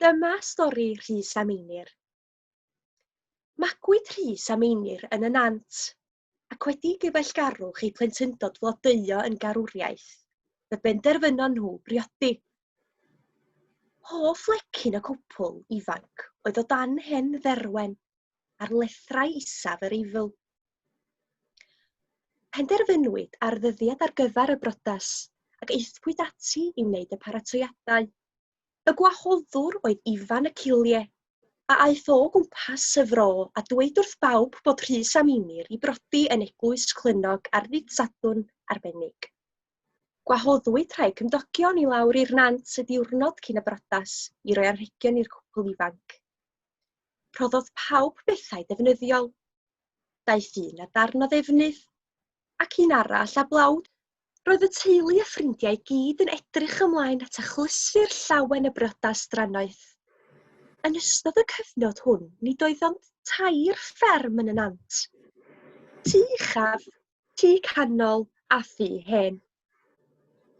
Dyma stori Rhys a Meinir. Magwyd Rhys a Meinir yn y Nant, ac wedi i gyfeillgarwch eu plentyndod flodeuo yn garwriaeth, fe benderfynon nhw briodi. Hoff lecyn y cwpwl ifanc oedd o dan hen dderwen ar lethrau isaf yr Eifl. Penderfynwyd ar ddyddiad ar gyfer y brodas ac aethpwyd ati i wneud y paratoiadau. Y gwahoddwr oedd Ifan y Cilie, a aeth o gwmpas y fro a dweud wrth bawb bod Rhys a Meinir i brodi yn Eglwys Clynnog ar ddydd Sadwrn arbennig. Gwahoddwyd rhai cymdogion i lawr i'r nant y diwrnod cyn y brodas i roi anrhegion i'r cwpl ifanc. Rhoddodd pawb bethau defnyddiol. Daeth un â darn o ddefnydd, ac un arall â blawd. Roedd y teulu a ffrindiau i gyd yn edrych ymlaen at achlysur llawen y briodas drannoeth. Yn ystod y cyfnod hwn, nid oedd ond tair fferm yn y nant. Tŷ uchaf, tŷ canol a thŷ hen.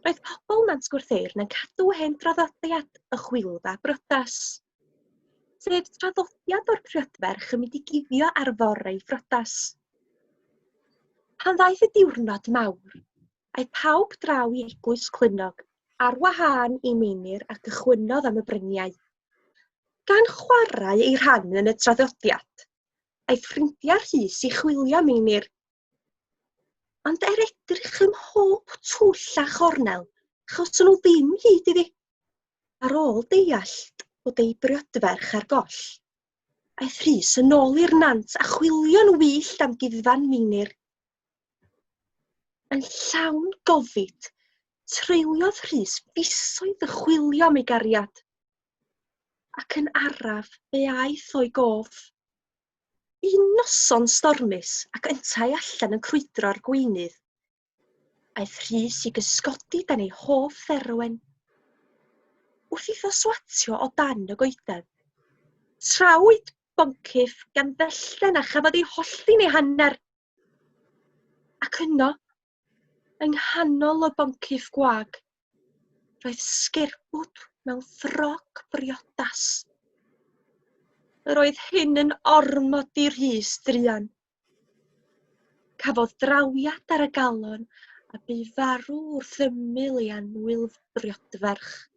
Roedd pobl Nant Gwrtheyrn yn cadw hen draddodiad y chwilfa briodas. sef traddodiad o'r prydferch yn mynd i guddio ar fore ei phriodas. Pan ddaeth y diwrnod mawr, aeth pawb draw i eglwys Clunog ar wahân i Meinir a gychwynnodd am y bryniau. Gan chwarae ei rhan yn y traddodiad, aeth ffrindiau Rhys i chwilio Meinir Ond er edrych ym mhob twll a chornel, achos nhw ddim hyd iddi. Ar ôl deallt bod ei briodferch ar goll, aeth Rhys yn ôl i'r nant a chwilio'n wyllt am guddfan Meinir. Yn llawn gofid, treuliodd Rhys fisoedd y chwilio am ei gariad, ac yn araf fe aeth o'i gof. Un noson stormus ac yntau allan yn crwydro ar gweinydd. Aeth Rhys i gysgodi dan ei hoff dderwen. Wrth iddo swatio o dan y goeden. Trawyd boncyff gan fellten a chafodd ei hollti'n ei hanner. Ac yno, yng nghanol y boncyff gwag, roedd sgerbwd mewn ffrog briodas. Yr oedd hyn yn ormod i Rhys druan. Cafodd drawiad ar y galon a bu farw wrth ymyl ei anwyl briodferch.